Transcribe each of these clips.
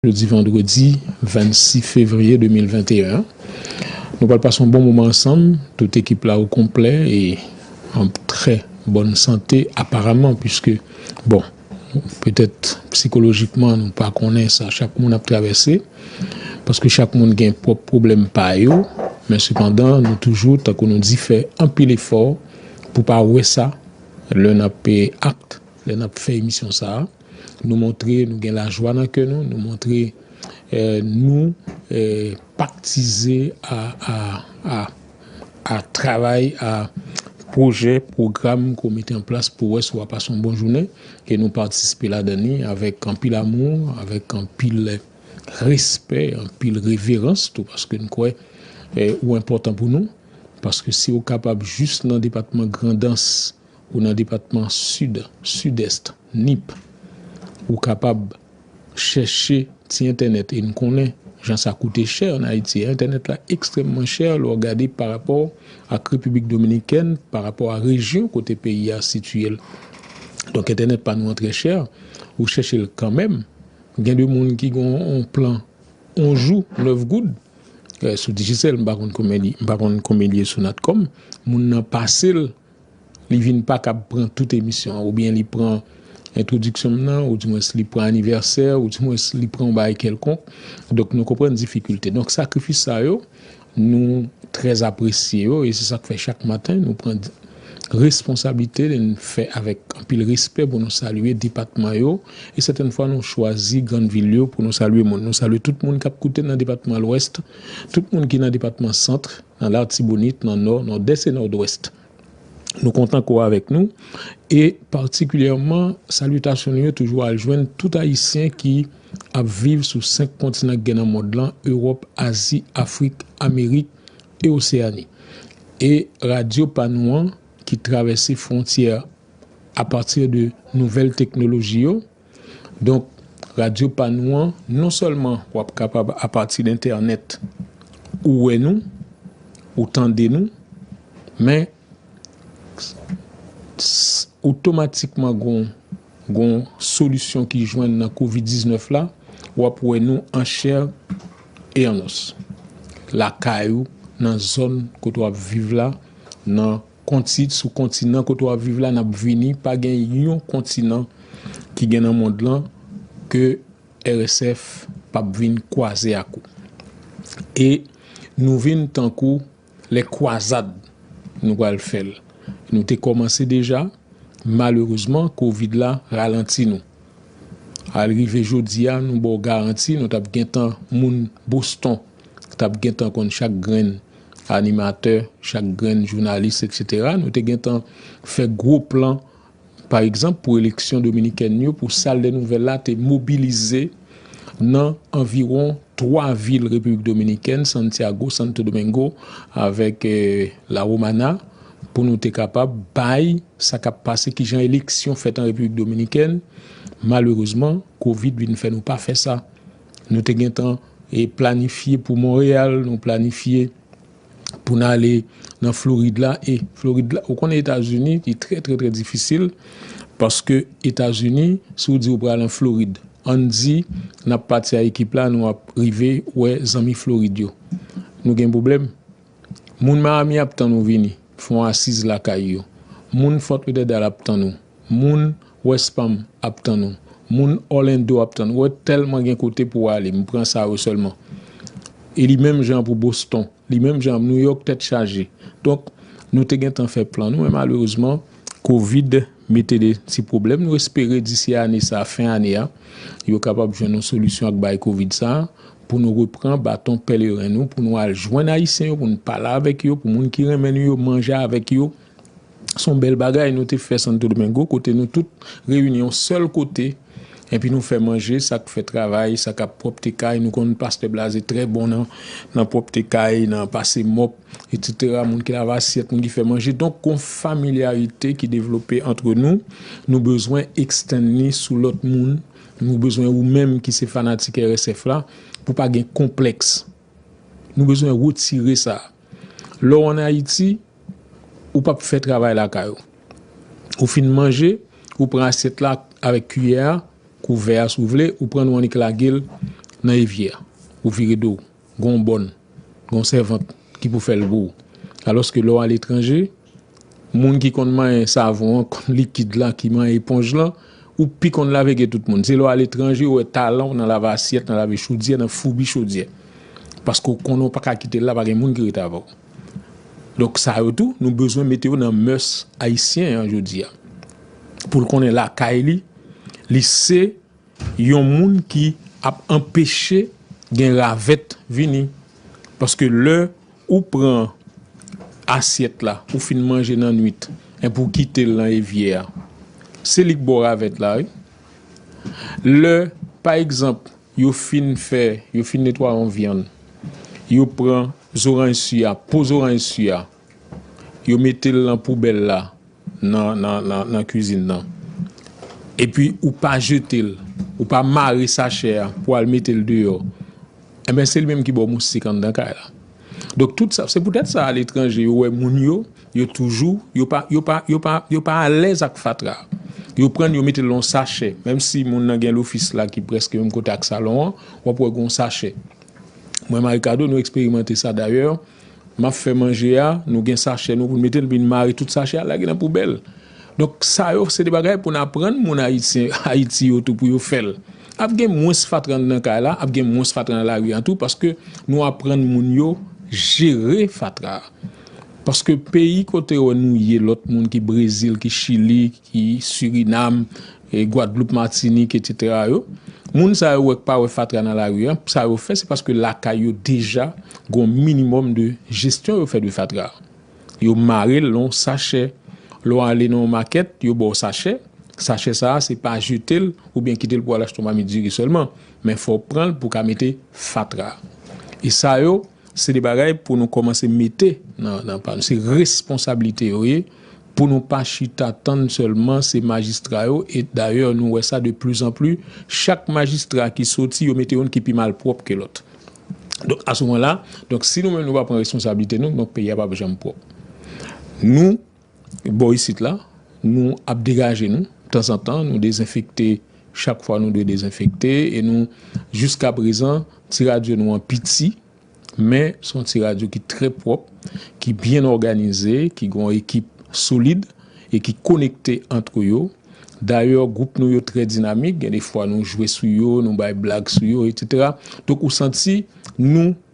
Jodi vandredi 26 fevriye 2021 an, nou pral pase yon bon moman ansanm, tout ekip la o konplè e an trè bòn sante aparaman puiske bon petèt psikolojikman nou pa konnen sa chak moun ap travèse paske chak moun gen pwòp pwoblèm pa yo men sepandan nou toujou tankou nou di fè anpil efò pou pa wè sa lè n ap act lè n ap fè emisyon sa a. Nou montre nou gen lajwa nan kè nou, nou montre nou paktize a travay, a pwojè, pwogram ke w mete an plas pou wè si w a pase yon bon jounen e nou patisipe ladan li avèk anpil amou, avèk anpil respè, anpil reverans tou paske nou kwè ou enpòtan pou nou paske si w kapab jis nan depatman Grandans. Ou nan depatman Sid, Sidest, Nip. Ou kapab chèche ti entènèt e n konnen jan sa koute chè an Ayiti. Entènèt la ekstrèmman chè lè w gade parapò ak Repiblik Dominikèn, parapò a rejyon kote peyi a sitiye l. Donk entènèt pa nou an trè chè. Ou chèche l kanmenm. Gen de moun ki gen yon plan yon jou, 9 goud sou Digicel. M pa konn konbyen li, m pa konn konbyen li ye sou Natcom. Moun nan pase l. Li vin pa kab pran tout emisyon an. Oubyen li pran entwodiksyon m nan, ou di mwens li pran anivèsè, ou di mwens li pran yon bagay kèlkonk. Donk nou konprann difikilte. Donk sakrifis sa yo, nou trè apresye yo e se sa k fè chak maten nou pran responsablite n fè avèk anpil respè pou nou salye depatman yo e sètèn fwa nou chwazi grann vil yo pou nou salye moun. Nou salye tout moun k ap koute nan depatman Lwès, tout moun ki nan depatman Centre. nan Latibonit, nan Nò, Nòdès e Nòdwès. Nou kontan ko avèk nou e patikilyèman salitasyon nou yo toujou al jwenn tout ayisyen ki ap viv sou 5 kontinan ki gen nan mond lan, Ewòp, Azi, Afrik, Amerik e Oseyani. E radyo pa nou an ki travèse fwontyè a pati de nouvèl teknoloji yo. Donk, radyo pa nou an, non sèlman w ap kapab apati de entènèt ou wè nou, ou tande nou, men otomatikman gon solisyon ki jwenn nan kovid 19 la, w ap wè nou an chè e an os. Lakay ou, nan zòn kote w ap viv la, nan Kontit sou kontinan kote wap viv la nap vini pa gen yon kontinan ki gen nan mond lan ke RSF pap vin kwaze ak ou e nou vin tankou lè kwazad nou pral fèl nou te kòmanse deja malerezman kovid la ralanti nou al rive jodia nou baw garanti nou tap gentan moun Boston. t ap gen tan konn chak grenn animatè, chak grenn jounalis eksetera. Nou te gen tan fè gwo plan pa egzanp pou eleksyon dominikèn yo pou sal dè nouvèl la te mobilize nan anviwon 3 vil Repiblik Dominikèn, Santiago, Santo Domingo avèk La Romana pou nou te kapab bay sa k ap pase ki jan eleksyon fèt an Repiblik Dominikèn. Malerezman kovid vin fè nou pa fè sa. Nou te gentan planifye pou Monreyal, nou planifye pou n ale nan Florid la. E Florid la, ou konnen Etazini, li trè trè trè difisil. Paske Etazini, si ou di ou pral an Florid, an n di n ap pati a ekip la, nou ap rive wè zanmi Florid yo. Nou gen pwoblèm. Moun Miami ap tann ou vini fon asiz lakay yo. Moun Fort Lauderdale ap tann ou. Moun West Palm ap tann ou. Moun Orlando ap tann ou. Wè tèlman gen kote pou ale. M pran sa yo sèlman. E li menm jan pou Boston. Li menm jan New York tèt chaje. Donk nou te gen tan fè plan nou men malerezman covid mete de ti pwoblèm. Nou espere disi ane sa fen ane a yo kapab jwenn yon solisyon ak bay covid sa pou nou repran baton pèleren nou pou nou al jwenn ayisyen yo pou nou pale avèk yo pou moun ki renmen nou yo manje avèk yo son bèl bagay nou te fè santo domingo kote nou tout reyini yon sèl kote epi nou fè manje sak fè travay sak ap pwòpte kay nou konn pastè blaze trè bon nan nan pwòpte kay nan pase mòp etc moun ki lave asyèt moun ki fè manje donk gon familyarite ki devlope antre nou nou bezwen ekstann li sou lòt moun. Nou bezwen ou menm ki se fanatik RSF la pou pa gen konplèks. Nou bezwen retire sa. Lè w an Ayiti, ou p ap fè travay lakay ou. Ou fin manje, ou pran asyèt la avèk kiyè a, kouvè a si w vle, ou pran l ou annik lage l nan evyè. Ou vire do w. gen yon bòn, gen yon sèvant ki pou fè l pou ou. Alòske lè w aletranje, moun ki konn manyen savon an, konn likid la, ki manyen eponj lan, ou pi konn lave ke tout moun. Se lè w aletranje ou wè talan w nan lave asyèt, nan lave chodyè, nan foubi chodyè. Paske ou konnen ou pa ka kite l la, pa gen moun ki rete avè w. Donk sa yo tou, nou bezwen mete yo nan mèurs ayisyen an jodi a. Pou l konnen lakay li, li se. Yon moun ki ap anpeche gen ravèt vini. Paske lè ou pran asyèt la ou fin manje nan nwit enpi ou kite l nan evyè a, se li k ba w ravèt la wi. Lè pa egzanp yo fin fè, yo fin netwaye yon vyann, yo pran zoranj su a, po zoranj su a. Yo metel nan poubèl la nan kizin nan. Epi ou pa jetel. Ou pa mare sachè a pou al metel deyò. Enben se li menm ki baw moustik anndan kay la. Donk tout sa. Se poutèt sa a letranje yo wè moun yo. Yo toujou. Yo pa yo pa yo pa yo pa alèz ak fatra. Yo prann yo metel nan yon sachè. Menm si moun nan gen lofis la ki prèske menm kote ak salon an. Wap wè gon sachè. Mwen Marikado nou eksperimante sa dayè. Map fè manje a, nou gen sachè nou pou nou mete l epi nou mare tout sachè a lage nan poubèl. Donk sa yo se de bagay pou n aprann moun ayisyen Ayiti yo tou pou yo fè l. Ap gen mwens fatra anndan kay la, ap gen mwens fatra nan lari an tou paske nou aprann moun yo jere fatra. Paske peyi kote yo nou ye lòt moun ki Brezil, ki Chili, ki Surinam, Gwadloup, Matinik etc. Yo, moun sa yo wè k pa wè fatra nan lari an, sa yo fè se paske lakay yo deja gon minimòm de jesyon yo fè de fatra. Yo marel nan yon sachè, lè w ale nan yon makèt yo ba w sachè, sachè sa a se pa jetel oubyen kitel pou al achte yon mamit diri sèlman, men fò w pranl pou w ka mete fatra. E sa yo. Se de bagay pou nou komanse mete nan pa nou. Se responsablite yo ye pou nou pa chita tann sèlman se majistra yo e dayè nou wè sa de pli zan pli chak majistra ki soti yo mete youn ki pi malpwòp ke lòt. Donk a souvan la, donk si nou menm nou pa pran responsablite nou, donk peyi a pap janm pwòp. Nou. Bò isit la, nou ap degaje nou tanzantan, nou dezenfekte chak fwa nou dwe dezenfekte e nou jiska prezan ti radyo nou an piti men se yon ti radyo ki trè pwòp, ki byen òganize, ki gen yon ekip solid e ki konekte antre yo. Dayè gwoup nou yo trè dinamik, gen de fwa nou jwe sou yo, nou bay blag sou yo, etc. Donk ou santi nou.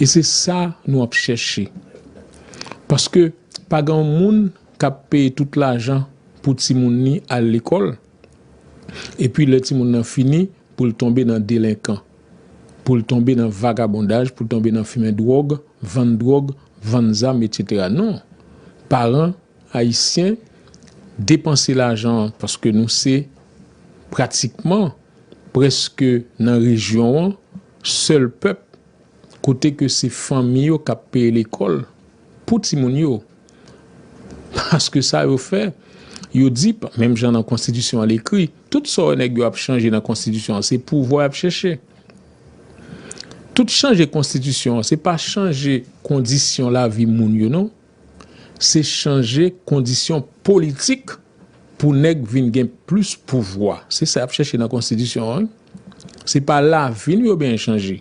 E se sa nou ap chèche. Paske pa gen yon moun k ap peye tout lajan pou timoun li al lekòl, epi lè timoun nan fini pou l tonbe nan delenkan, pou l tonbe nan vagabondaj, pou l tonbe nan fimen dwòg, vann dwòg, vann zam, etsetera. Non. Paran ayisyen depanse lajan an, paske nou se pratikman Prèske nan rejyon an, sèl pèp kote ke se fanmi yo k ap peye lekòl pou timoun yo. Paske sa yo fè, yo di, menm jan nan konstitisyon an l ekri, tout sa yo nèg yo ap chanje nan konstitisyon an se pouvwa y ap chèche. Tout chanje konstitisyon an se pa chanje kondisyon lavi moun yo non. Se chanje kondisyon politik pou nèg vin gen plis pouvwa. Se sa y ap chèche nan konstitisyon an. Se pa lavi nou yo benyen chanje.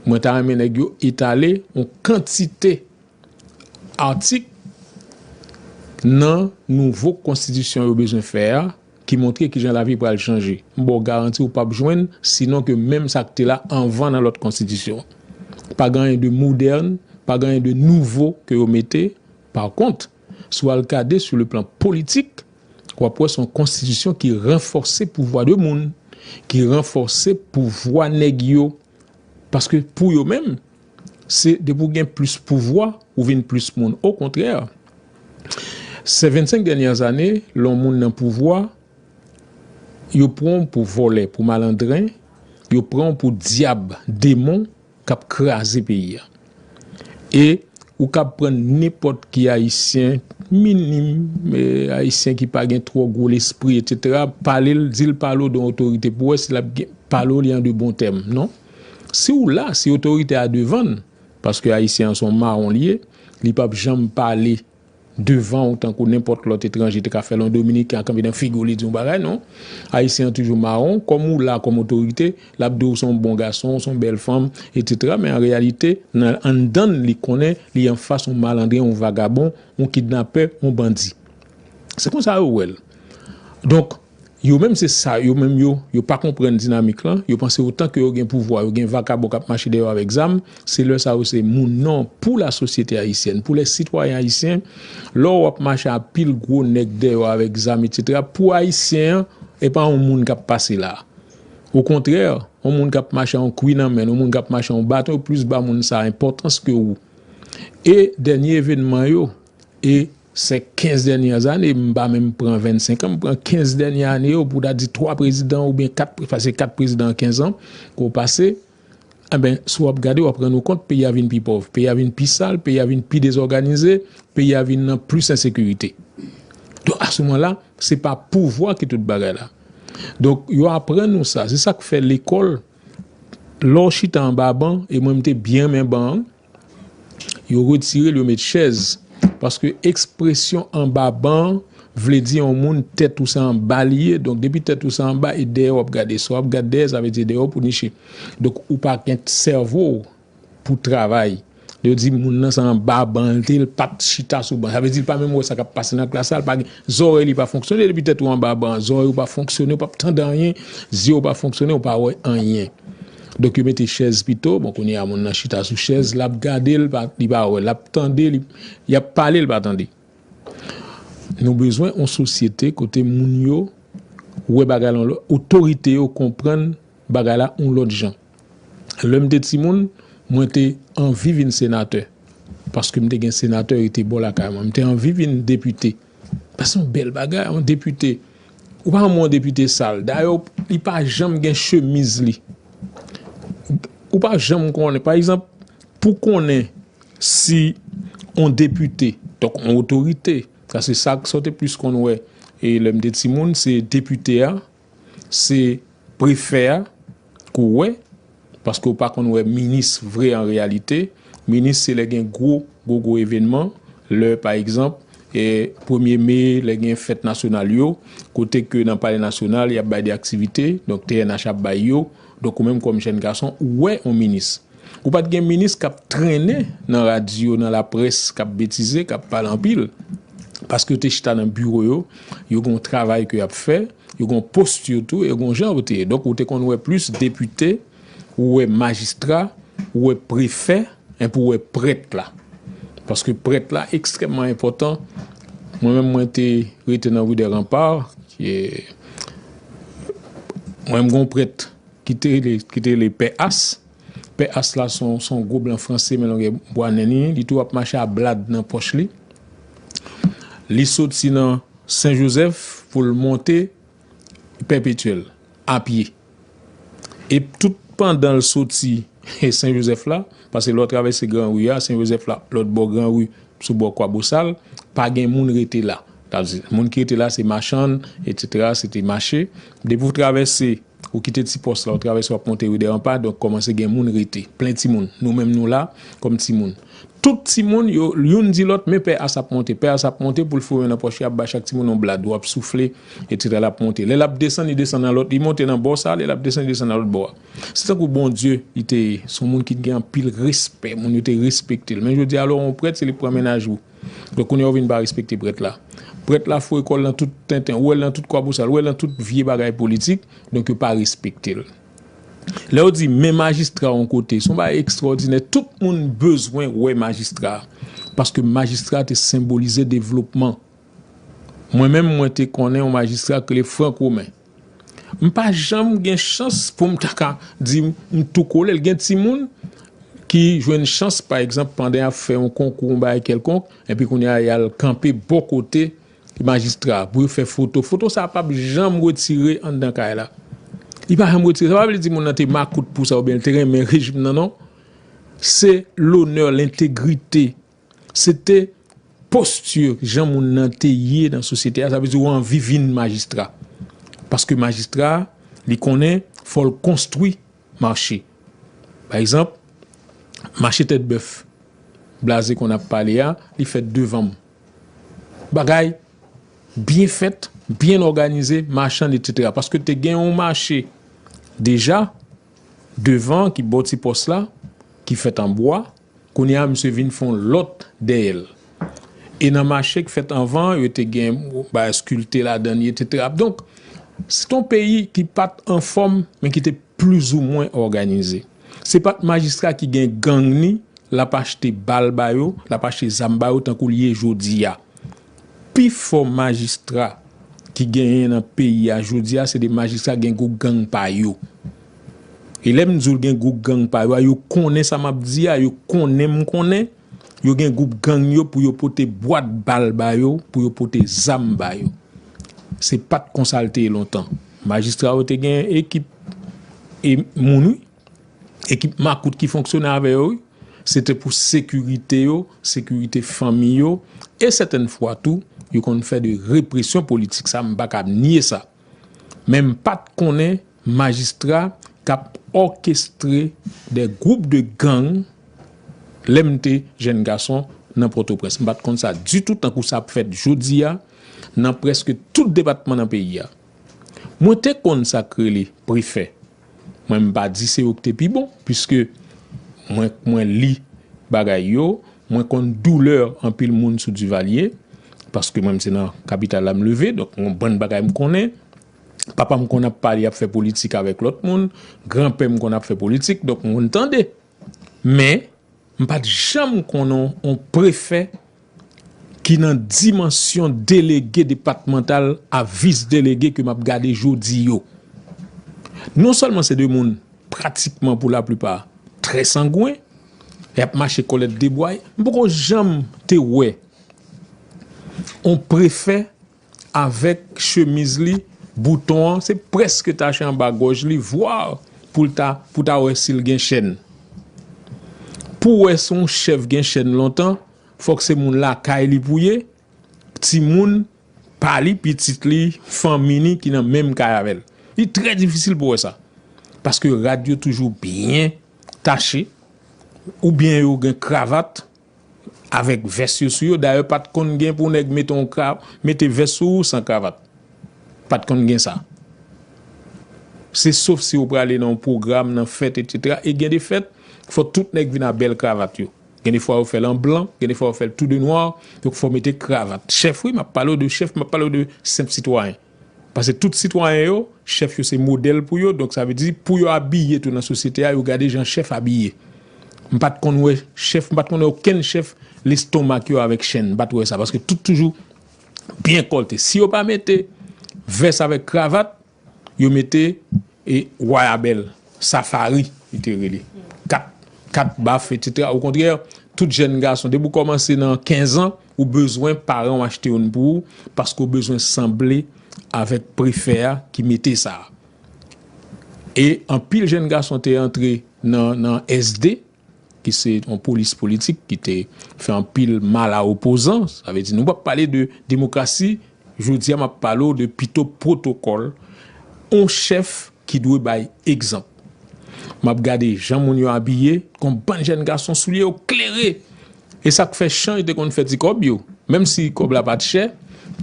Mwen ta renmen nèg yo etale yon kantite atik nan nouvo konstitisyon yo bezwen fè a. ki montre kijan lavi pral chanje. M ba w garanti ou pap jwenn sinon ke menm sa k te la anvan nan lòt konstitisyon. Pa gen anyen de modèn, pa gen anyen de nouvo ke yo mete. Par kont, si w al gade sou le plan politik, w ap wè se yon konstitisyon ki ranfòse pouvwa de moun, ki ranfòse pouvwa nèg yo. Paske pou yo menm, se depi w gen plis pouvwa, ou vin plis moun. Okontrè, sè 25 dènyè ane, lè yon moun nan pouvwa, yo pran w pou vòlè, pou malandren, yo pran w pou dyab, demon k ap kraze peyi a. E ou kab pran nenpòt ki ayisyen minim, ayisyen ki pa gen twò gwo lespri etc. Pale l, di l pale w don otorite pou wè si l ap pale w li an de bon tèm non. Si w la, si otorite a devan l, paske ayisyen an s on mawon li ye, li p ap janm pale. devan ou tankou nenpòt lòt etranje te ka fèl yon dominiken ap kanpe nan figiw li diw yon bagay non ayisyen an toujou mawon kòm ou la kòm otorite lap diw ou son bon gason ou son bèl fanm etc men an reyalite nan anndann li konnen li anfas yon malandren yon vagabon yon kidnapè yon bandi se konsa yo wèl donk Yo menm se sa yo menm yo, yo pa konprann dinamik lan, yo panse otan ke yo gen pouvwa, yo gen vakabon kap mache dèyè yo avèk zam, se lè sa yo se moun non pou la sosyete ayisyèn, pou lè sitwayen ayisyen, lè ou ap mache a pil gwo nèg dèyè ou avèk zam etc. Pou ayisyen an e pa yon moun kap pase la. O kontrè, yon moun kap mache a yon kwi nan men, yon moun kap mache a yon baton yo plis ba moun sa enpòtans ke ou. E dènye evenman yo e. Se 15 dènyè ane, m pa menm pran 25 an, m pran 15 dènyè ane yo pou w ta di 3 prezidan oubyen 4, pase 4 prezidan an 15 an ke w pase, enben si w ap gade w ap rann ou kont peyi a vin pi pòv, peyi a vin pi sal, peyi a vin pi dezòganize, peyi a vin nan plis ensekirite. Donk a se moman la, se pa pouvwa ki tout bagay la. Donk yo aprann nou sa, se sa k fè lekòl, lè w chita anba ban, e mwen m te byen renmen ban an, Yo retire l yo met chèz paske ekspresyon anba ban an vle di yon moun tèt ou se anba li ye donk depi tèt ou se anba e dèyè w ap gade sa w ap gad dèyè sa vle di dèyè w pou niche donk ou pa gen sèvo w pou travay lè yo di moun nan se anba ban l te l pa t chita sou ban sa vle di l pa menm wè sa k ap pase nan klas la l pa gen zòrèy li pa fonksyone depi tèt ou anba ban an zòrèy ou pa fonksyone ou p ap tande anyen zye w pa fonksyone ou pa wè anyen. Donk yo mete chèz pito, bon kounye a moun nan chita sou chèz, lap gade l pa, li pa wè, lap tande li, yap pale li pa tande. Nou bezwen yon sosyete kote moun yo wè bagay la yon lòt, otorite yo konprann bagay la yon lòt jan. Lè m te timoun, mwen te anvi vin senatè, paske m te gen senatè rete bò lakay mwen, m te anvi vin depite. Sa se yon bèl bagay yon depite ou pa wè yon depite sal dayè li pa janm gen chemiz li ou pa janm konnen pa egzanp pou konnen si yon depite donk yon otorite sa se sa ou te plis konn wè e lè m te timoun se depite a. Se prefè a ke w wè, paske ou pa konn wè minis vre an reyalite. Minis se lè gen gwo gwo gwo evenman, lè pa egzanp, premye me, lè gen fèt nasyonal yo, kote ke nan palè nasyonal y ap bay de aktivite, donk TNH ap bay yo. Donk ou menm kòm jèn gason ou wè yon minis. Ou pat gen minis kap trennen nan radyo, nan laprès, kap betize, kap pale anpil. Paske yo te chita nan biwo yo, yo gen yon travay ke yap fè, yo gen yon posture tou, yo gen yon jan yo te ye. Donk ou te konn wè plis depite, ou wè majistra, ou wè prefè, enpi ou wè prèt la. Paske prèt la ekstrèmman enpòtan. Mwen menm mwen te rete nan Rue des Remparts. Mwen m gon prèt ki te rele ki te rele pè As, pè As la se yon se yon gwo blan franse men longè bwa nen li, li toujou ap mache a blad nan pòch li, li soti nan sen jozèf pou l monte pèpetyèl a pye e tout pandan l soti sen jozèf la paske lè w travèse gran ri a sen jozèf la lòt bò gran ri Sou bò Kwabosal, pa gen moun rete la. Sa vle di, moun ki rete la se machann, etsetera, se te mache. Depi ou travèse, ou kite ti pòs la, ou travèse w ap monte ri Dèranpa, donk kòmanse gen moun rete. Plen timoun. Nou menm nou la, kòm timoun. Tout timoun yo, youn di lòt, men pè Asa ap monte. Pè Asa ap monte pou l foure nan pòch li, ap bay chak timoun yon blad. Ou ap soufle, etsetera, l ap monte. Lè l ap desann, li desann nan lòt, li monte nan bò sa, lè l ap desann, li desann nan lòt bò a. Se tankou Bondye li te ye. Se yon moun ki te gen anpil respè. Moun yo te respekte l. Men jodi a lè w yon prèt se li k pran mennaj ou. Donk kounye a ou vin pa respekte prèt la. Prèt la fouye kò l nan tout tenten. Ou wè l nan tout kwabosal. Ou wè l nan tout vye bagay politik. Donk yo pa respekte l. Lè yo di men majistra yon kote. Se yon bagay ekstwòdinè. Tout moun bezwen wè majistra. Paske majistra te senbolize devlopman. Mwen menm mwen te konnen yon majistra ki rele Frank Romain. M pa janm gen chans pou m ta ka di m tou kole l. Gen timoun ki jwenn chans pa egzanp pandan y ap fè yon konkou yon bagay kèlkonk epi kounye a y al kanpe bò kote majistra a pou yo fè foto. Foto sa a pap janm retire anndan kay la. Li pa janm retire. Sa pa vle di moun nan te makout pou sa oubyen l te renmen rejim nan non. Se lonè, l entegrite. Se te posture jan moun nan te ye nan sosyete a, sa vle di ou anvi vin majistra. Paske majistra a, li konnen fò l konstwi mache. Pa egzanp, mache tèt bèf Blaze konn ap pale a, li fèt devanm. Bagay byen fèt, byen òganize, machann etsetera. Paske te gen yon mache deja devan ki bò ti pòs la, ki fèt an bwa, Kounye a misye vin fon lòt dèyè l. E nan mache k fèt anvan yo te gen bagay skilte ladan li etc. Donk se t on peyi ki pat anfòm men ki te plizoumwen òganize. Se pat majistra ki gen gang ni l ap achte bal ba yo, l ap achte zam ba yo tankou l ye jodi a. Pi fò majistra ki genyen nan peyi a jodi a se de majistra ki gen gwo gang pa yo. E lè m di w gen gwoup gang pa yo a, yo konnen sa m ap di a, yo konnen m konnen, yo gen gwoup gang yo pou yo pote bwat bal ba yo, pou yo pote zam ba yo. Se pa t konsa l te ye lontan. Majistra yo te gen ekip e moun wi, ekip makout ki fonksyone avè yo wi. Se te pou sekirite yo, sekirite fanmi yo e sètèn fwa tou, yo konn fè de represyon politik. Sa m pa ka nye sa. men m pa t konnen majistra k ap òkestre de gwoup de gang lè m te jenn gason nan Pòtoprens. M pa t konn sa ditou tankou sa ap fèt jodi a nan prèske tout depatman nan peyi a. Mwen te konn sa k rele prefè. Mwen m pa di se yo ki te pi bon, piske mwen mwen li bagay yo, mwen konn doulè anpil moun sou Duvalier, paske mwen m se nan kapital la m leve, donk gen yon bann bagay m konnen, papa m konn ap pale ap fè politik avèk lòt moun, gran pè m konn ap fè politik, donk m konn tande. Men, m pa t janm konnen yon prefè ki nan dimansyon delege depatmantal a vis delege ke m ap gade jodi yo. Non sèlman se 2 moun pratikman pou laplipa trè sangwen, y ap mache kòlèt debway, m poko janm te wè yon prefè Avèk chemiz li bouton an se prèske tache anba gòj li voir poul ta pou ta wè sil gen chèn. Pou wè si yon chèf gen chèn lontan fòk se moun lakay li pou ye, timoun pa li, pitit li, fanmi ni ki nan menm kay avèl. Li trè difisil pou wè sa. Paske rad yo toujou byen tache oubyen yo gen kravat. avèk vès yo sou yo, dayè pat konn gen pou nèg mete yon kra, mete vès sou ou san kravat. Pat konn gen sa. Se sof si ou prale nan yon pwogram, nan fèt etc. E gen de fèt, fò tout nèg vin a bèl kravat yo. Gen de fwa yo fèl an blan, gen de fwa yo fèl tou de nwa, donk fò mete kravat. Chèf wi, map pale ou de chèf, map pale ou de senp sitwayen. Pase tout sitwayen yo, chèf yo se modèl pou yo, donk sa vle di pou yo abiye tou nan sosyete a yo gade jan chèf abiye. M pa t konn wè chèf, m pa t konn wè okenn chèf lestonmak yo avèk chenn, m pa t wè sa paske tout toujou byen kòlte. Si yo pa mete vès avèk kravat, yo mete E Wa a bèl. Safari, li te rele. Kat, kat baf, etsetera. Okontrè, tout jèn gason, depi ou kòmanse nan kenzan, ou bezwen paran ou achte youn pou ou, paske ou bezwen sanble avèk prefè a ki mete sa a. E anpil jèn gason te antre nan SD. ki se yon polis politik ki te fè anpil mal a opozan, sa vle di nou pap pale de demokrasi, jodi a map pale w de pito pwotokòl, yon chèf ki dwe bay egzanp. Map gade jan moun yo abiye, yon bann jèn gason soulye yo klere, e sak fè chan yo te konn fè ti kòb yo, menm si kòb la pat chè,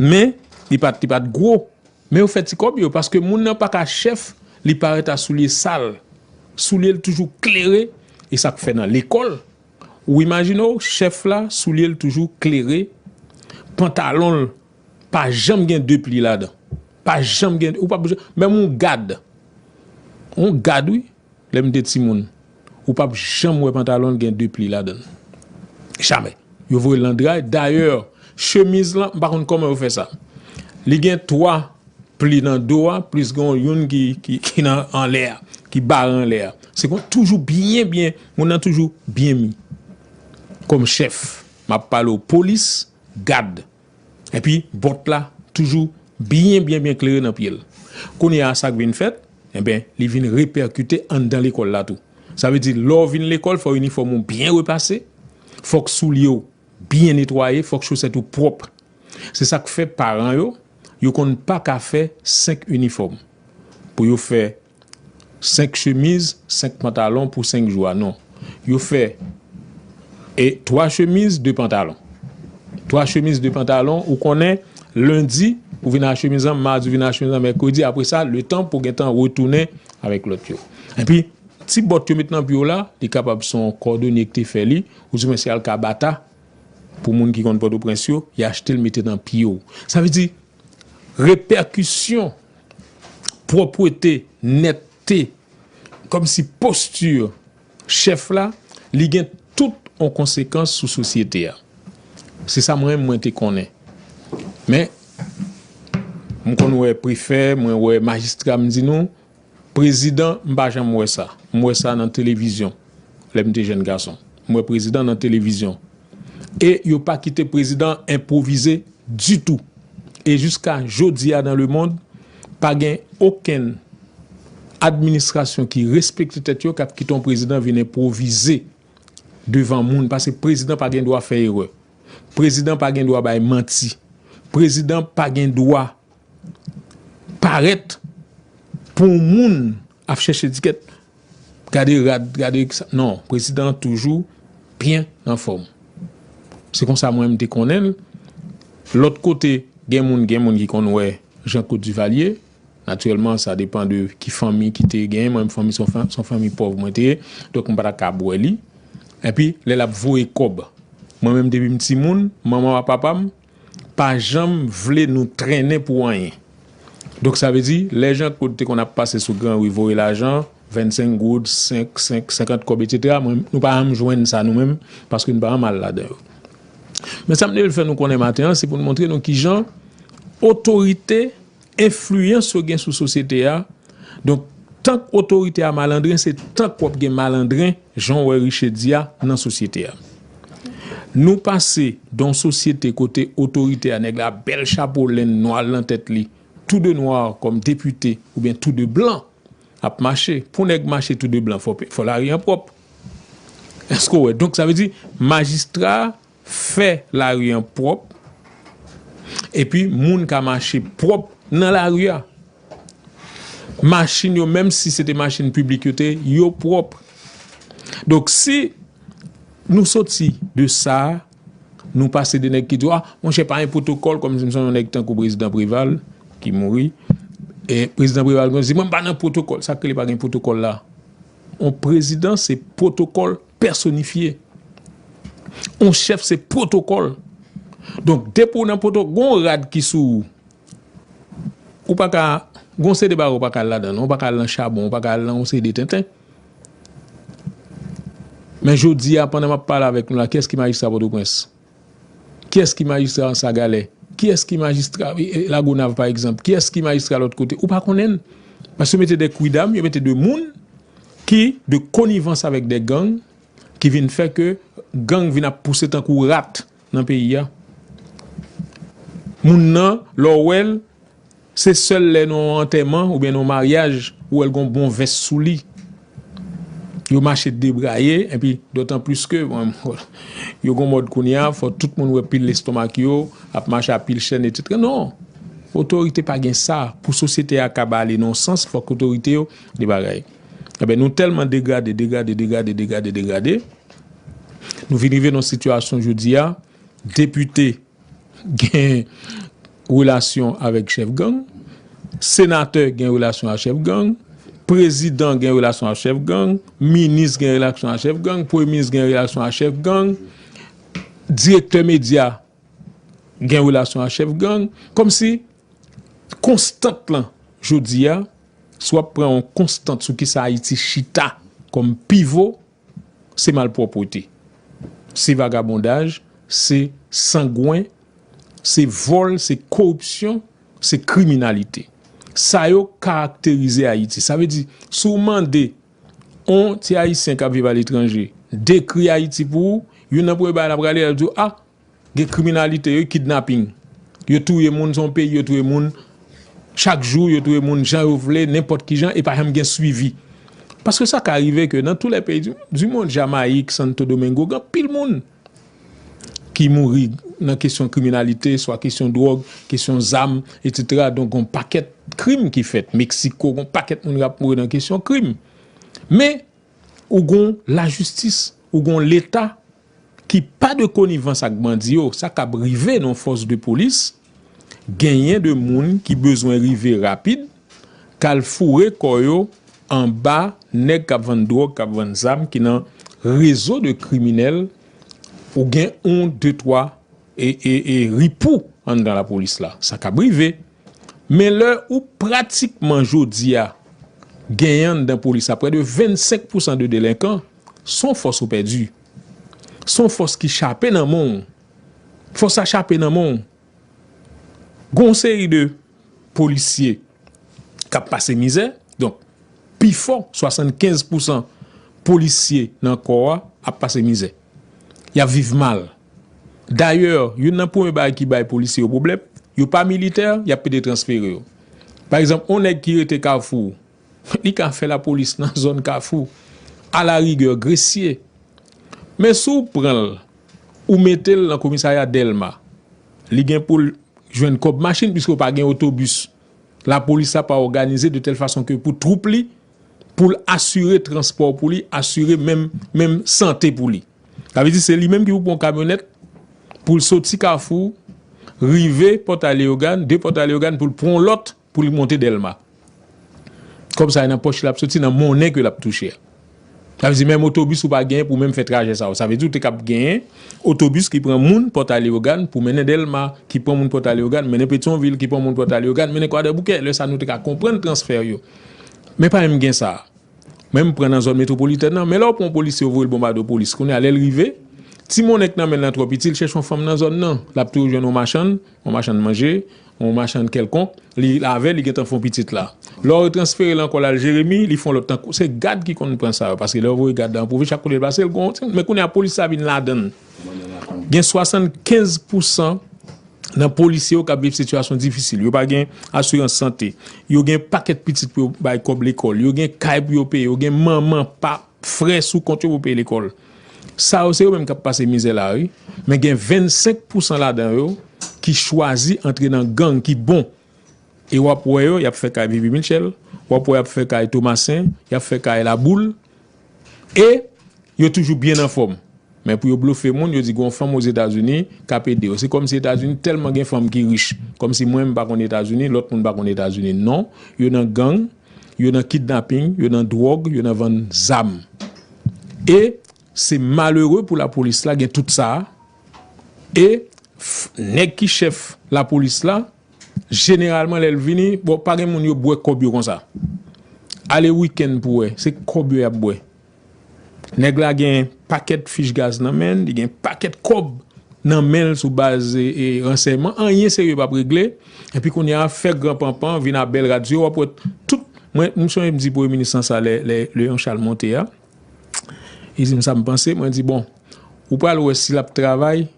men li pat gwo, Men yo fè ti kòb yo paske moun nan pa ka chèf li parèt a soulye sal, soulye l toujou klere e sa k fè nan lekòl ou imajine w chèf la soulye l toujou klere, pantalon l pa janm gen de pli ladan, pa janm gen, ou pa menm yon gad, yon gad wi. Lè m te timoun, ou pap janm wè pantalon l gen 2 pli ladan l. Jamè. Yo voye l nan dray. Dayè, chemiz lan, m pa konn kòman yo fè sa. Li gen 3 pli nan do a, plis gen youn ki nan anlè a, ki bare anlè a. Se kon toujou byen byen, moun nan toujou byen mi. Kòm chèf, m ap pale w polis, gad. Epi bòt la toujou byen byen byen klere nan pye l. Kounye a sa k vin fèt, enben li vin repèkite anndan lekòl la tou. Sa vle di lè w vin lekòl fò inifòm ou byen repase, fòk soulye w byen netwaye, fòk chosèt ou pwòp. Se sa k fè paran yo, yo konn pa ka fè senk inifòm pou yo fè. 5 chemiz, 5 pantalon pou 5 jou a non. Yo fè e 3 chemiz, 2 pantalon. 3 chemiz, 2 pantalon, ou konnen lendi ou vin a chemiz lan, madi ou vin a chemiz lan, mèkredi apre sa le tan pou gen tan retounen avèk lòt yo. Epi ti bòt yo met nan pye w la, li kapab se yon kòdonye ki te fè li, ou di mwen se alkabata pou moun ki konn Pòtoprens yo, y achte l mete nan pye w. Sa vle di repèkisyon. pwòpwete, nètte, kòm si posti chèf la, li gen tout yon konsekans sou sosyete a. Se sa mwen mwen te konnen. Men, mwen konn wè prefè, mwen wè majistra, mwen di nou, prezidan, mwen pa janm wè sa. Mwen wè sa nan televizyon. Lè m te jèn gason, m wè prezidan nan televizyon. E yo pa kite prezidan enpwovize ditou. E jiska jodi a nan lemond, pa gen okenn administrasyon ki respekte tèt yo k ap kite yon prezidan vin enpwovize devan moun. Pase prezidan pa gen dwa fè erè. Prezidan pa gen dwa bay manti. Prezidan pa gen dwa parèt pou yon moun Ap chèche ticket gade rad gade kisa non prezidan an toujou byen anfòm se konsa mwen menm te konnen l lòt kote gen moun gen moun ki konn wè jan kot Duvalier natirèlman sa depan de ki fanmi ki te gen mwen menm fanmi son fanmi pòv mwen te donk m pa ta kab wè li epi lè l ap voye kòb mwen menm depi m timoun manman a papa m. pa janm vle nou trennen pou anyen. Donk sa vle di, lè Jean Claude te konn ap pase sou gran ri voye lajan, 25 goud, 5, 5, 50 kòb etsetera, mwen, nou pa janm jwenn sa nou menm, paske nou pa janm al ladan yo. Men sa m te vle fè nou konnen maten an, se pou n montre nou ki jan otorite Enfliyans yo gen sou sosyete a, donk tank otorite a malandren se tank wap gen malandren jan w wè Riché di a nan sosyete a. Nou pase don sosyete kote otorite a nèg la ap bèl chapo lenn nwa l nan tèt li tou de nwa kòm depite oubyen tou de blan ap mache. Pou nèg mache tou de blan fò lari an pwòp. Èske w wè? Donk sa vle di majistra Fè lari an pwòp epi moun ka mache pwòp nan lari a. Machin yo menm si se te machin piblik yo te yo pwòp. Donk si nou soti de sa, nou pase de nèg ki di a monchè pa gen pwotokòl kòm si m sonje yon nèg tankou prezidan Preval ki mouri e prezidan Preval konn di mwen m pa nan pwotokòl. Sa k rele pa gen pwotokòl la? On prezidan se pwotokòl. Pèsonifye. On chèf se pwotokòl. Donk depi ou nan pwotokòl, gen yon rad ki sou ou. Ou pa ka, gen yon seri de bagay ou pa ka al ladan non, ou pa ka al nan chabon, ou pa ka al nan yon seri de tenten. Men jodi a pandan m ap pale avèk nou la, kiyès ki majistra Pòtoprens? Kiyès ki majistra Ansagalè? Kiyès ki majistra Lagonav pa egzanp? Kiyès ki majistra lòt kote? Ou pa konnen l. Paske yo mete de kwidam, yo mete de moun ki de konivans avèk de gang ki vin fè ke gang vin ap pouse tankou rat nan peyi a. Moun nan, lè w wè l, Se sèl lè nan yon antèman oubyen nan yon maryaj ou wèl gon bon vès sou li. Yo mache debraye enpi dotan plis ke yo gon mòd kounya fò tout moun wè pil lestomak yo ap mache a pil chèn etc. Non! Otorite pa gen sa pou sosyete a kab ale nan yon sans fòk otorite yo de bagay. Enben nou tèlman degrade, degrade, degrade, degrade, degrade nou vin rive nan yon sitiyasyon jodi a depite. gen relasyon avèk chèf gang, senatè gen relasyon ak chèf gang, prezidan gen relasyon ak chèf gang, minis gen relasyon ak chèf gang, premye minis gen relasyon ak chèf gang, direktè medya gen relasyon ak chèf gang. Kòm si konstant lan jodi a, si w ap pran yon konstant sou kisa Ayiti chita kòm pivo, se malpwòpwete, se vagabondaj, se sangwen, se vòl, se koripsyon, se kriminalite. Sa yo karakterize Ayiti. Sa vle di, si w mande yon ti Ayisyen k ap viv aletranje dekri Ayiti pou ou, youn nan premye bagay l ap gade, l ap di w, a! Gen kriminalite wi kidnapping yo touye moun son peyi yo touye moun chak jou yo touye moun jan yo vle nenpòt kijan e pa janm gen swivi paske sa ka rive ke nan tou lè peyi di mond jamayik santo domengo gen anpil moun ki mouri nan kesyon kriminalite swa kesyon dwòg kesyon zam etsetera donk gon pakèt krim ki fèt meksiko gon pakèt moun kap mouri nan kesyon krim men ou gon lajistis ou gon leta ki pa de konivans ak bandi yo sa kab rive nan fòs de polis genyen de moun ki bezwen rive rapid kal foure kò yo anba nèg kap vann dròg kap vann zam ki nan rezo de kriminèl ou gen on de twa e ripou anndan la polis la sa kab rive men lè ou pratikman jodi a genyen anndan polis aprè de 25 pousan de delenkan. S on fòs ou pèdi. S on fòs ki chape nan men w. Fòs sa chape nan men w. Gen yon seri de polisye k ap pase mizè. Donk, pi fò, 75 pousan polisye nan kò a ap pase mizè. Y ap viv mal. Dayè, youn nan premye bagay ki bay polisye yo pwoblèm, yo pa militè, y ap pete transfere yo. Pa egzanp, yon nèg ki rete Kafou Li ka fè lapolis nan zòn kafou, alarigè Gresye. Men si w pran l, ou mete l nan komisarya Dèlma, li gen pou l jwenn kòb machin piske yo pa gen otobis. Lapolis la pa òganize de tèl fason ke pou twoup li, pou l asire transpò pou li, asire menm, menm sante pou li. Sa vle di se li menm ki pou pran yon kamyonèt pou l soti kafou, rive Pòtay Leyogàn, de Pòtay Leyogàn pou l pran yon lòt Pou li monte Dèlma. Kòb sa yo nan pòch li ap soti nan monnen ke l ap touche a. Sa vle di menm otobis ou pa genyen pou menm fè trajè sa yo. Sa vle di ou te kab genyen otobis ki pran moun Pòta Leyogàn pou mennen Dèlma, ki pran moun Pòta Leyogàn mennen Petyonvil, ki pran moun Pòta Leyogàn mennen Kwadèboukè. Lè sa nou te ka konprann transfè yo. Men pa menm gen sa. Menm pran nan zòn metwopolitèn nan. Men lè ou pran yon polisye ou voye l bonbade yon polis. Kounye a lè l rive, ti monnen k nan men l lan twò piti, l chèche yon fanm nan zòn nan. L ap toujou jwenn yon machann. Yon machann manje, yon machann kèlkonk, li lave, li gentan fè yon pitit la. Lè w retransfere l ankò l al Jeremi, li fè yon lòt tankou. Se gad ki konn pran sa yo paske lè yo voye gad la nan pwovens chak kote l pase l gon yon ti moun. Men kounye a polis la vin ladan l. Gen 75 pou san nan polisye yo k ap viv sitiyasyon difisil. Yo pa gen asirans sante. Yo gen pakèt pitit pou yo bay kòb lekòl. Yo gen kay pou yo peye. Yo gen manman, pap. Frè sou kont yo pou peye lekòl. Sa yo se yo menm k ap pase mizè la a wi. Men gen 25 pousan ladan yo ki chwazi antre nan gang ki bon. E w ap wè yo, y ap fè kay Vivi Mitchell, w ap wè y ap fè kay Thomassin, y ap fè kay Laboul. E yo toujou byen anfòm. Men pou yo blofe moun, yo di gen yon fanm Ozetazini k ap ede yo. Se kòmsi Etazini tèlman gen fanm ki rich. Kòmsi mwen m pa konn Etazini, lòt moun pa konn Etazini. Non, yo nan gang. yo nan kidnaping, yo nan dwòg, yo nan vann zam. E se malere pou lapolis la gen tout sa a. E nèg ki chèf lapolis la, jeneralman lè l vini, bon pa gen moun yo bwè kòb yo konsa. Ale wikenn pou wè, se kòb yo y ap bwè. Nèg la gen pakèt fich gaz nan men l, li gen pakèt kòb nan men l sou baz ransèyman, anyen serye pap regle, epi kounye a fè gran panpan vin a bèl radyo, wap wè tout, mwen m sonje m di premye minis lan sa lè Leon Charles monte a, li di m sa m panse, mwen di bon ou pral wè si lap travay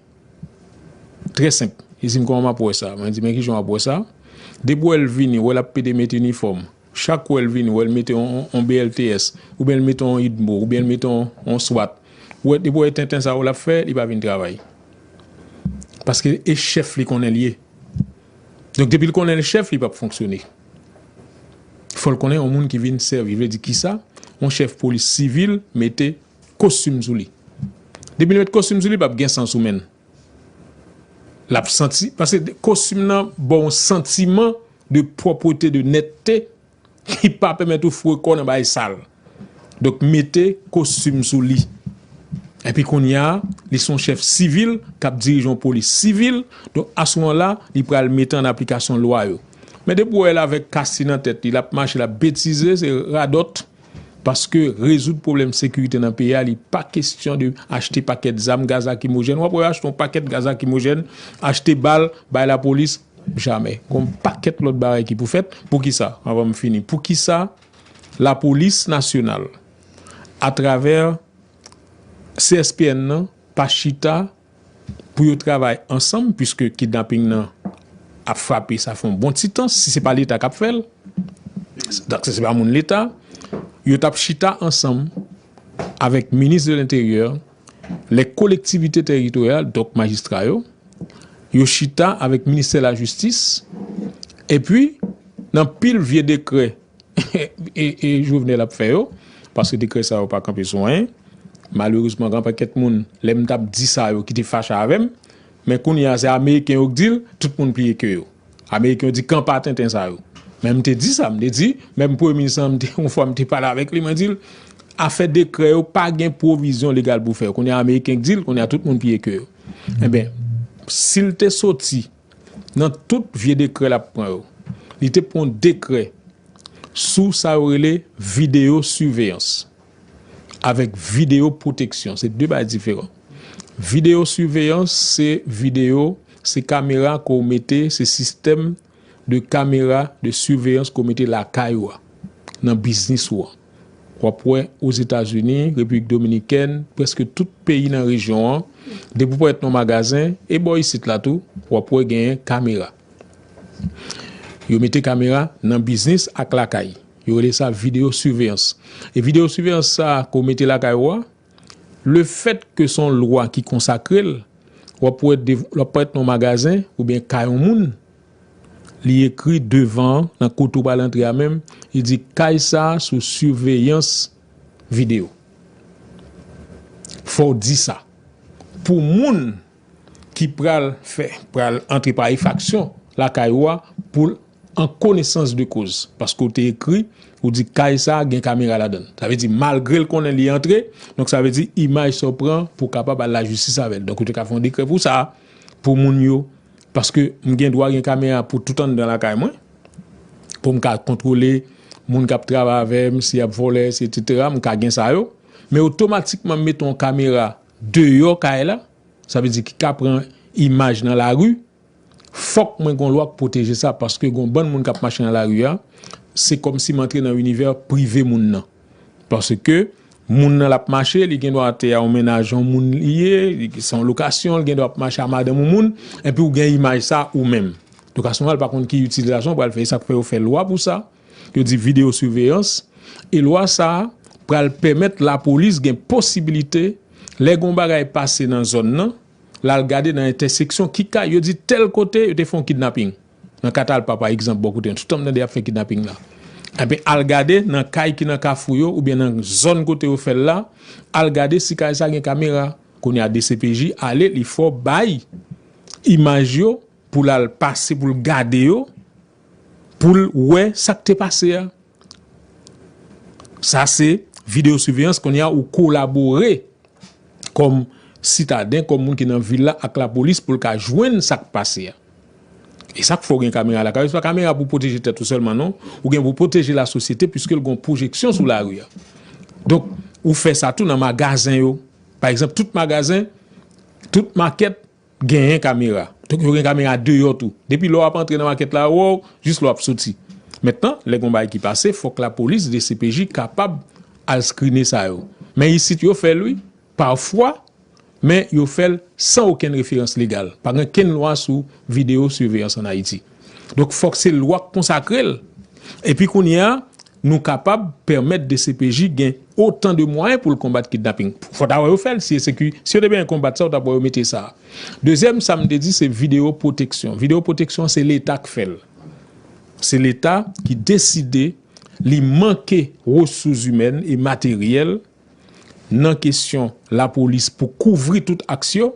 trè senp, li di m kòman map wè sa, mwen di men kijan wap wè sa, depi w wè l vini, wè lap pede met inifòm. Chak wè l vini wè l mete on BLTS oubyen l mete on idmo oubyen l mete on swat ou wè depi w wè tenten sa yo l ap fè li pa vin travay paske e chèf li konnen l ye donk depi l konnen l chèf li p ap fonksyone fò l konnen on moun ki vin sèvi vle di kisa on chèf polis sivil mete kostim sou li depi l mete kostim sou li pa p gen san sou men l. Lap santi paske kostim nan ba w yon santiman de pwòpwete, de nètte ki pa pèmèt ou foure kò w nan bagay sal. Donk mete kostim sou li. Epi kounya li son chèf sivil kap dirije yon polis sivil. Donk a ce moment la li pral mete an aplikasyon lwa yo. Men depi w wè l avèk kasti nan tèt li lap mache lap betize se radòt. Paske rezoud pwoblèm sekirite nan peyi a li pa kestyon de achte pakèt zam, gaz lakimojèn. Wap wè yo achte yon pakèt gaz lakimojèn, achte bal bay lapolis, jamè. Gon yon pakèt lòt bagay ki pou fèt. Poukisa? Anvan m fini. Poukisa lapolis nasyonal atravè CSPN nan pa chita pou yo travay ansanm puiske kidnaping nan ap frape sa fon bon ti tan si se pa leta kap fèl dak se se pa moun leta yo tap chita ansanm avèk minis de l'interyè lè kolektivite teritoryal dòk majistra yo yo chita avèk ministè lajistis epi nan pil vye dekrè. e Jovenel ap fè yo paske dekrè sa yo pa kanpe sou anyen malerezman gen pakèt moun lè m tap di sa yo ki te fache avè m men kounye a se ameriken yo k di l tout moun pliye ke yo ameriken yo di kanpa tenten sa yo men m te di sa m te di menm premye minis lan m te yon fwa m te pale avèk li mwen di l afè dekrè yo pa gen pwovizyon legal pou fè yo kounye a ameriken k di l kounye a tout moun pliye ke yo enben si l te soti. Nan tout vye dekrè l ap pran yo, li te pran yon dekrè sou sa yo rele videyo siveyans avèk videyo pwoteksyon. Se de bagay diferan. Videyo siveyans se videyo, se kamera ke w mete, se sistèm de kamera de siveyans ke w mete lakay ou a, nan biznis ou an. W ap wè Ozetazini, Repiblik Dominikèn, prèske tout peyi nan rejyon an, depi w parèt nan yon magazen, e bò isit la tou, w ap wè genyen kamera. Yo mete kamera nan biznis ak lakay. Yo rele sa videyo siveyans. E videyo siveyans sa a ke w mete lakay ou a, le fèt ke se yon lwa ki konsakre l, w ap wè, w ap parèt nan yon magazen oubyen kay yon moun, Li ekri devan an, nan kote ou pral antre a menm, li di kay sa sou siveyans video. Fò w di sa pou moun ki pral fè, pral antre pa efaksyon lakay ou a pou l an konesans de koz. Paske ou te ekri, ou di kay sa gen kamera ladan l. Sa vle di malgre l konnen li antre, donk sa vle di imaj sa w pran pou w kapab al lajistis avè l. Donk ou te ka fè yon dekrè pou sa, pou moun yo Paske m gen dwa gen kamera pou tout anndan lakay mwen. Pou m ka kontwole moun k ap travay avè m, si y ap vòlè, si etsetera, m ka gen sa yo. Men otomatikman m mete yon kamera deyò kay la, sa vle di ki ka pran imaj nan lari, fòk mwen gen yon lwa k pwoteje sa. Paske gen yon bann moun k ap mache nan lari a, se kòmsi m antre nan inivè prive moun nan. Paske moun nan l ap mache, li gen dwa te yon mennaj yon moun li ye, se yon lokasyon, li gen dwa ap mache a madanm yon moun, enpi ou gen imaj sa ou menm. Lokasyon an, l pa konn ki itilizasyon ou pral fè. E sa k fè yo fè lwa pou sa, yo di videyo siveyans. E lwa sa a pral pèmèt lapolis gen posibilite, lè gen yon bagay pase nan zòn nan, l al gade nan entèseksyon ki kay, yo di tèl kote yo te fè yon kidnaping. Nan ka Talpa pa egzanp bò kote m, toutan m tande y ap fè kidnaping la, enben al gade nan kay ki nan Kafou yo oubyen nan zòn kote yo fè l la, al gade si kay sa gen kamera. Kounye a dcpj ale li fò bay imaj yo pou l al pase pou l gade yo pou l wè sa k te pase a. Sa se video surveillance kounye a ou kolabore kom sitaden, kom moun ki nan vil la ak la polis pou l ka jwenn sa k pase a. E sa k fè w gen kamera lakay ou, se pa kamera pou pwoteje tèt ou sèlman non, ou gen pou pwoteje la sosyete pwiske l gon pwojeksyon sou lari a. Donk, ou fè sa tou nan magazen yo. Pa egzanp, tout magazen, tout makèt, Genyen kamera. Donk yo gen kamera deyò tou. Depi lè w ap antre nan makèt la wè w, jis lè w ap soti. Mentnan, lè gen yon bagay ki pase, fòk lapolis, dcpj kapab al skrine sa yo. Men isit yo fè l wi, pafwa, men yo fè l san okenn referans legal. Pa gen kenn lwa sou videyo siveyans an Ayiti. Donk fòk se lwa k konsakre l. Epi kounye a, Nou kapab pèmèt dcpj gen otan de mwayen pou l konbat kidnaping. Fò ta wè yo fè l, si eseki, si yo te benyen konbat sa, ou tap wè yo mete sa. Dezyèm sa m te di se videyo pwoteksyon. Videyo pwoteksyon se leta k fè l. Se leta ki deside li manke resouzimèn e materyèl nan kesyon lapolis pou kouvri tout aks yo,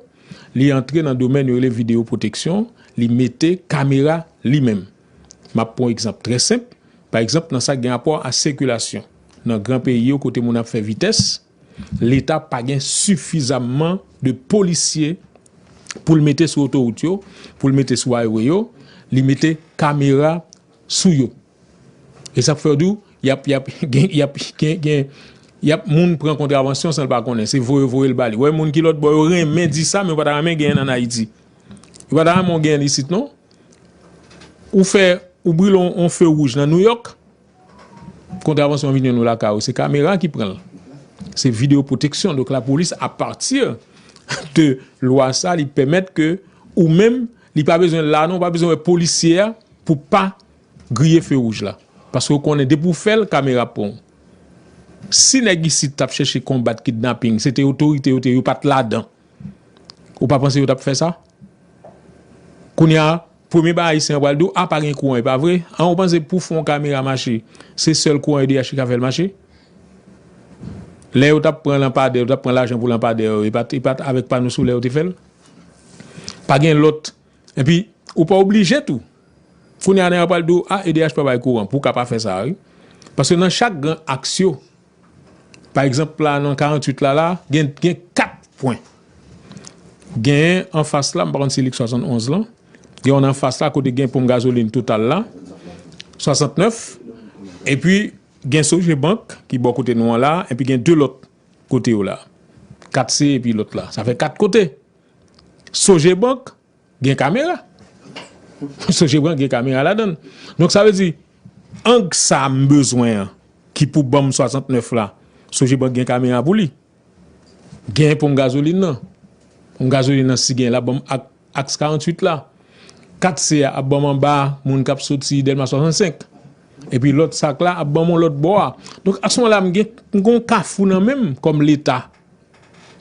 li antre nan domèn yo rele videyo pwoteksyon, li mete kamera li menm. M ap pran yon egzanp trè senp, pa egzanp nan sa ki gen rapò a sikilasyon. Nan gran peyi yo kote moun ap fè vitès, Leta pa gen sifizamman de polisye pou l mete sou otowout yo, pou l mete sou aywe yo, li mete kamera sou yo. E sa k fè yo di w, y ap, y ap, y ap, gen, y ap moun pran kontravansyon san l pa konnen, se voye voye l ba li. Ou wè moun ki lòtbò yo renmen di sa men yo pa ta renmen genyen l ann Ayiti. Yo pa ta renmen w genyen l isit non. Ou fè, ou brile yon few wouj nan Nouyòk, kontravansyon an vin jwenn ou lakay ou. Se kamera ki pran l. Se video pwoteksyon. Donk lapolis a pati de lwa sa li pèmèt ke ou menm, li pa bezwen l la non, ou pa bezwen wè polisye a pou pa griye few wouj la. Paske ou konnen depi w fè l, kamera ap pran w. Si nèg isit t ap chèche konbat kidnaping, se te otorite yo te, yo pa t ladan. Ou pa panse yo tap fè sa? Kounye a, premye bagay ayisyen an pral di w, a pa gen kouran e pa vre? An ou panse pou fè yon kamera mache, se sèl kouran edh ki ka fè l mache? Lè yo tap pran lanpadè, yo tap pran lajan pou lanpadè yo, e pat e pat avèk pano solè yo te fè l? Pa gen lòt, epi ou pa oblije tou. Kounye a nèg la pral di w, a edh pa bay kouran pou w ka pa fè sa a wi. Paske nan chak gran aks yo, Pa egzanp la nan 48 la la, gen 4 pwen. Genyen anfas la, m pa konn si li 71 lan, gen yon anfas la kote gen ponp gazolin total la, 69, epi gen Sogebank ki bò kote nou an la, epi gen 2 lòt kote yo la. 4 se epi lòt la. Sa fè 4 kote. Sogebank, Gen kamera. Sonje byen gen kamera ladan l. Donk sa vle di ang sa m bezwen an ki pou ban m 69 la, sonje byen gen kamera pou li. Gen ponp gazolin nan. Ponp gazolin nan si gen l ap ban m aks 48 la. 4 se a ap ban m anba moun k ap soti Dèlma 65. Epi lòt sak la ap ban m yon lòt bò a. Donk a s moman la m gen m gen yon kafou nan men m kòm leta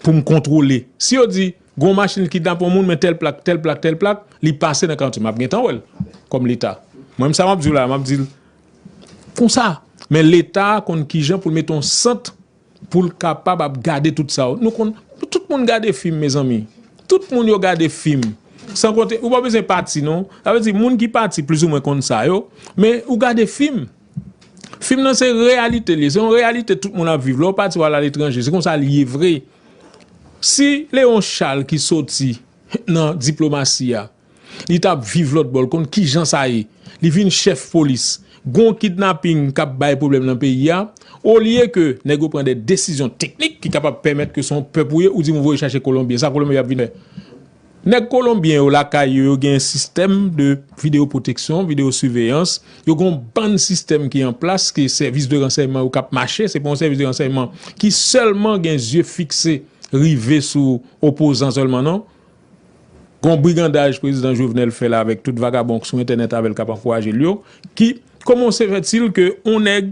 pou m kontwole. Si yo di, gen yon machin ki kidnape yon moun men tèl plak, tèl plak, tèl plak, li pase nan karantye, m ap gentan wè l kòm Leta. Mwen menm sa m ap di w la a, m ap di l konsa. Men Leta konn ki jan pou l mete yon sant pou l kapab ap gade tout sa yo. Nou konn, tout moun gade fim mezanmi. Tout moun yo gade fim. San konte, ou pa bezwen pati non. Sa vle di moun ki pati plizoumwen konn sa yo. Men ou gade fim. Film nan se reyalite li ye. Se yon reyalite tout moun ap viv. Lè w pati w al aletranje, se konsa li ye vre. Si Leon Charles ki soti nan diplomasi a, li t ap viv lòt bò, l konn ki jan sa ye. Li vin chèf polis. Gon w kidnaping k ap bay pwoblèm nan peyi a. Olye ke nèg yo pran de desizyon teknik ki kapab pèmèt ke se yon pèp ou ye, ou di m ou voye chache Kolonbyen. Sa Kolonbyen ap vin fè? Nèg kolonbyen yo lakay yo, yo gen yon sistèm de videyo pwoteksyon, videyo siveyans, yo gen yon bann sistèm ki an plas ke sèvis de ransèyman yo kap mache, se pa yon sèvis de ransèyman ki sèlman gen zye fikse rive sou opozan sèlman non. Gen yon brigandaj prezidan Jovenel fè la avèk tout vagabon k sou entènèt avèl kap ankouraje l yo ki komanse fè til ke yon nèg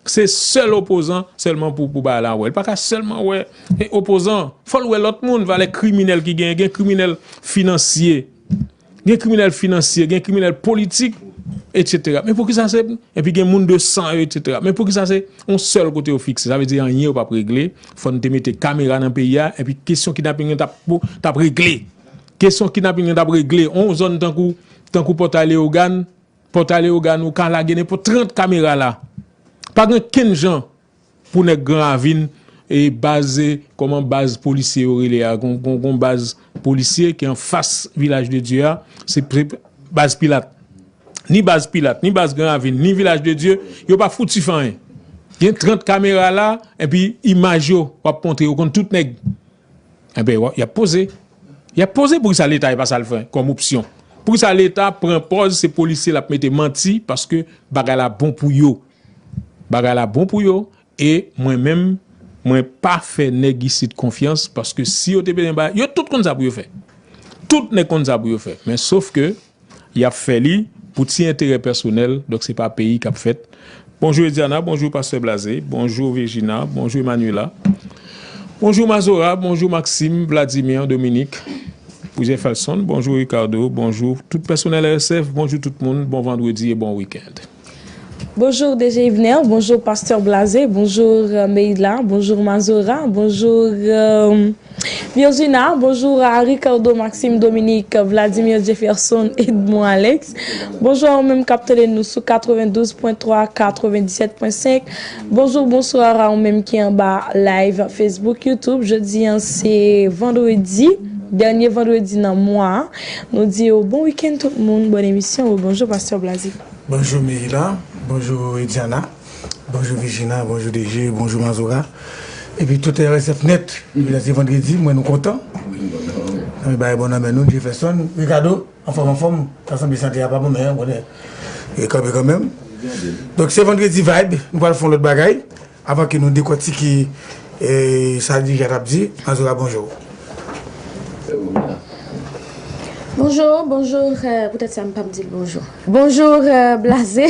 Se sèl opozan sèlman pou bagay la wè. Li pa ka sèlman wè opozan. Fò l wè lòt moun. Valè kriminèl ki genyen. Gen kriminèl finansye. Gen kriminèl finansye. Gen kriminèl politik. Etc. Men pou ki sa se. Epi gen moun de san yo etc. Men pou ki sa se. On sèl kote yo fikse. Sa vle di anyen yo pa pou regle. Fò n te mete kamera nan peyi a. Epi kesyon kidnaping yo tap regle. Kesyon kidnaping yo tap regle. On zòn tankou tankou pòtay leogane. Pòtay Leyogàn ou ka lage nenpòt 30 kamera la. Pa gen kenn jan pou nèg Gran Ravin e baz kòman baz polisye yo rele a gon baz polisye ki anfas Vilaj de Dye a se baz Pilat. Ni baz Pilat, ni baz Gran Ravin, ni Vilaj de Dye yo pa fouti fè anyen. Gen 30 kamera la epi imaj yo wap montre yo konn tout nèg. Enben, y ap poze. Y ap poze poukisa leta e pa sa l fè kòm opsyon. Poukisa leta pran pòz se polisye l ap mete manti paske bagay la bon pou yo. Bagay la bon pou yo e mwen menm mwen pa fè nèg isit konfyans paske si yo te bezwen bay, yo tout konn sa pou yo fè. Tout nèg konn sa pou yo fè men sof ke. Yap fè li pou ti enterè pèsonèl donk se pa peyi kap fèt Bonjou Ediana bonjou pastè Blaze bonjou Virgina bonjou Emmanuela bonjou Mazora bonjou Maxime Vladimir Dominique Jefferson bonjou Ricardo bonjou tout pèsonèl RSF bonjou tout moun bon vandredi e bon week-end. Bonjour DG Yvner, bonjour Pasteur Blaze, bonjour Meyla, bonjour Mazora, bonjour Biozuna, bonjour a Ricardo, Maxime, Dominique, Vladimir, Jefferson, Edmond, Alex, bonjour a ou menm kap tande nou sou 92.3, 97.5, bonjour, bonsoir a ou menm ki anba live Facebook, YouTube, jodi an se Vendredi, dènye Vendredi nan mwa a, nou di yo bon week-end tout moun, bonne emisyon, rebonjour Pasteur Blaze. Bonjou Mirina, bonjou Widiana, bonjou Virgina, bonjou DG, bonjou Mazora epi tout RSF net epi la se vandredi mwen nou kontan Zanmi bagay bon nan men nou Jefferson, Ricardo anfòm anfòm ta sanble sante a pa bon men ou konnen yo kanpe kanmenm donk se vandredi vibe nou pral fon lòt bagay Avan ke nou dekòtike sa dirija a t ap di, Mazora bonjou. Bonjou, bonjou, poutèt sa m pa p di l bonjou. Bonjou Blaze,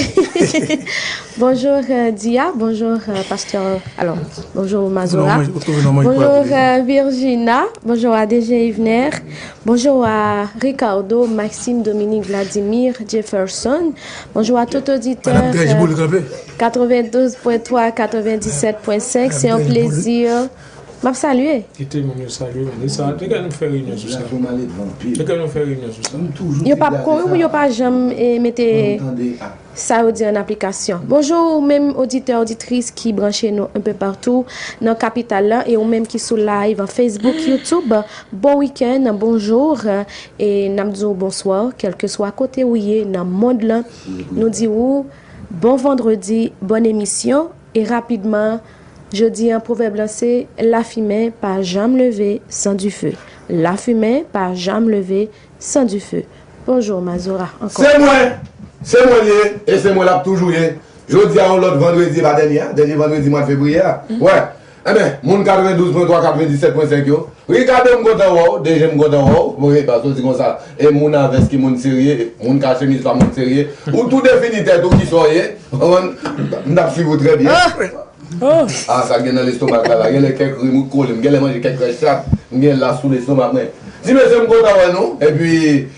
bonjou Diya, bonjou pastè, alò, bonjou Mazora, bonjou Virjina, bonjou a DG Yvener, bonjou a Ricardo, Maxime, Dominique, Vladimir, Jefferson, bonjou a tout oditè. Madam Trèch Boule kanpe. 92 pwen 3 97 pwen 5 se yon plezi map salye. Kite moun yo salye w se sa Degan nou fè reyinyon sou sa Degan nou fè reyinyon sou sa Yo pap ko wi yo pa janm mete sa yo di an aplikasyon Bonjour ou menm oditè oditris ki branche nou un peu partout nan kapital la e ou menm ki sou live an Facebook YouTube bon week-end bonjour e nap di w bonsoir kelkeswa kote ou ye nan mond lan nou di w Bon vendredi, bòn emisyon, e rapidman Jodi an pwovèb lan se, lafimen pa janm leve san dife lafimen pa janm leve san dife Bonjour Mazora ankò. Se mwen! Se mwen l ye e se mwen l ap toujou ye. Jodi a yon lòt vandredi, e pa dènye a, dènye vandredi mwa fevriye a. Wè! Enben, moun 92 pwen 3 97 pwen 5 yo, Ricardo m kontan wè w, DG m kontan wè w, bon e paske w di konsa, e moun a vès ki moun serye, moun ka chemiz pa moun serye, ou tou defini tèt ou kisa w ye, ou konprann, m t ap swiv ou trè byen. Ah sa gen nan lestomak la la, genlè kèk rim ou t kole, m genlè manje kèk rès chat, m gen la sou lestomak mwen. Ti mesye m kontan wè nou, epi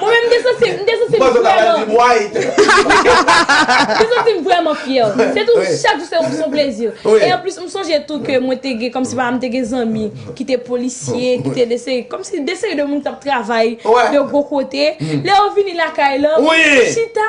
Mwen menm m te santi m te santi m vrèman m te santi m vrèman fyè se tou chak jou se yon plezi e anplis m sonje tou ke mwen te gen kòmsi pa m te gen zanmi ki te polisye ki te de seri kòmsi de seri de moun k t ap travay de gwo kote lè yo vini lakay lan chita.